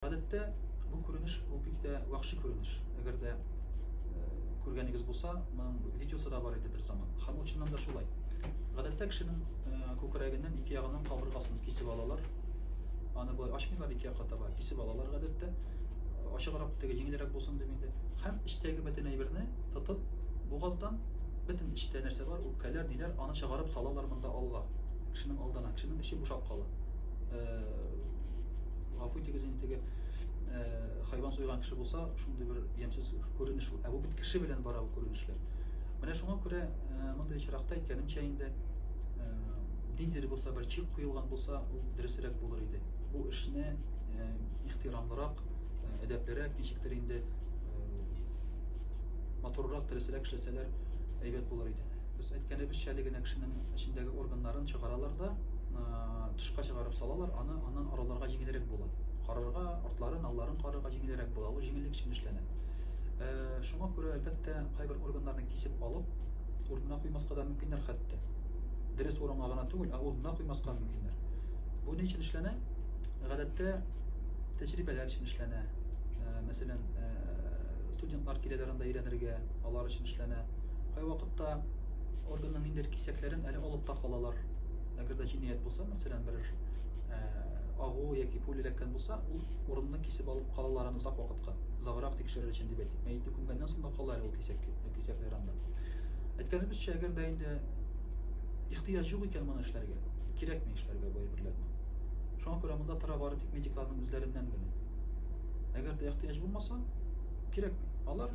Гадәттә, бу күренеш ул бик тә вахши күренеш. Әгәр дә күргәнегез булса, моның видеосы да бар иде бер заман. Һәм чыннан да шулай. Гадәттә кешенең күкрәгеннән ике ягыннан кабыргасын кисеп алалар. Аны болай ачмыйлар ике якка таба, кисеп алалар гадәттә. Ачыграк теге җиңелрәк булсын дип инде. Һәм эчтәге бөтен әйберне тотып, бугаздан бөтен эчтә нәрсә бар, үпкәләр, ниләр, аны чыгарып салалар монда алга. Кешенең алдына, кешенең эче бушап кала. Гафу итегез инде теге хайван суйган кеше булса, шундый бер ямьсез күренеш ул. Ә бу бит кеше белән бара бу күренешләр. Менә шуңа күрә мондый очракта әйткәнемчә инде ниндидер булса бер чик куелган булса, ул дөресрәк булыр иде. Бу эшне ихтирамлырак, әдәплерәк, ничектер инде матуррак, дөресрәк эшләсәләр әйбәт булыр иде. Без әйткәнебезчә әле генә кешенең эчендәге органнарын чыгаралар да, тышка чыгарып салалар, аны аннан араларга җиңелрәк була. Карарга, артларын, алларын карарга җиңелрәк була, ул җиңеллек өчен эшләнә. Шуңа күрә, әлбәттә, кайбер органнарны кисеп алып, урынына куймаска да мөмкиннәр хәтта. Дөрес урынга гына түгел, ә урынына куймаска мөмкиннәр. Бу ни өчен эшләнә? Гадәттә тәҗрибәләр өчен эшләнә. Мәсәлән, студентлар киләләр анда өйрәнергә. алар өчен эшләнә. Кайвакытта органның ниндидер кисәкләрен әле алып та калалар. Әгәр дә җинаять булса, мәсәлән, берәр э, агу яки пуля эләккән булса, ул урынны кисеп алып калалар аны озак вакытка. Озаграк тикшерер өчен дип әйтик. Мәете күмгәннән соң да кала әле ул кисәк, кисәкләр анда. Әйткәнебезчә, әгәр дә инде ихтыяҗ юк икән моны эшләргә, кирәкми эшләргә бу әйберләрне. Шуңа күрә монда тора бары тик медикларның үзләреннән генә. Әгәр дә ихтыяҗ булмаса, Кирәкми. Алар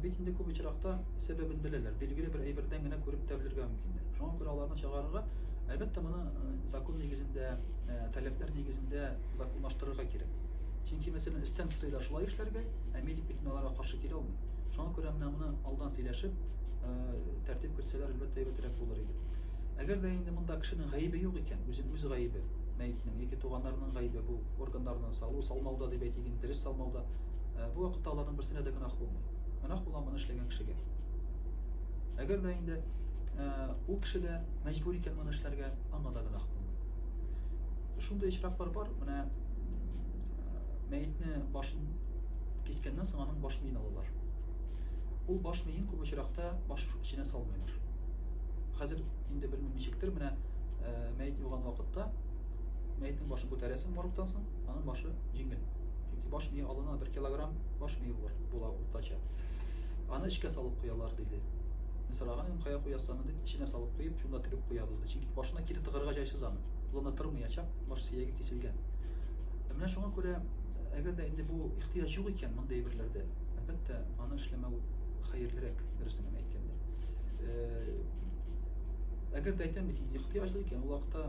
бит инде күп очракта сәбәбен беләләр. Билгеле бер әйбердән генә күреп тә белергә мөмкиннәр. Шуңа күрә аларны чыгарырга, әлбәттә, моны закон нигезендә, таләпләр нигезендә законлаштырырга кирәк. Чөнки, мәсәлән, өстән сорыйлар шулай эшләргә, ә медик бит аларга каршы килә алмый. Шуңа күрә менә моны алдан сөйләшеп, тәртип кертсәләр, әлбәттә, әйбәтрәк булыр иде. Әгәр дә инде монда кешенең гаебе юк икән, үзен үз гаебе, мәетнең яки туганнарының гаебе бу органнарны салу, салмауда дип әйтик, дөрес салмауда, Ә, бу вакытта аларның берсенә дә гөнаһ булмый. Гөнаһ була моны эшләгән кешегә. Әгәр дә инде ә, ул кеше дә мәҗбүр икән моны эшләргә, аңа да гөнаһ булмый. Шундый очраклар бар, менә мәетне башын кискәннән соң аның баш миен алалар. Ул баш миен күп очракта баш эченә салмыйлар. Хәзер инде белмим ничектер, менә мәет юган вакытта мәетнең башын күтәрәсең моргтан соң, Аның башы җиңел. Чөнки баш мие алына 1 килограмм баш мие булыр, була уртача. Аны эчкә салып куялар диде. Мин сораган идем, кая куясаны дип, эченә салып куеп, шунда тегеп куябыз ди. Чөнки башына кире тыгырга җайсыз аны. Улына тырмыячак, баш сөяге киселгән. Ә менә шуңа күрә, әгәр дә инде бу ихтыяҗ юк икән мондый әйберләрдә, әлбәттә, аны эшләмәү хәерлерәк, дөресен генә әйткәндә. Э, әгәр дә әйтәм бит, ихтыяҗлы икән, ул вакытта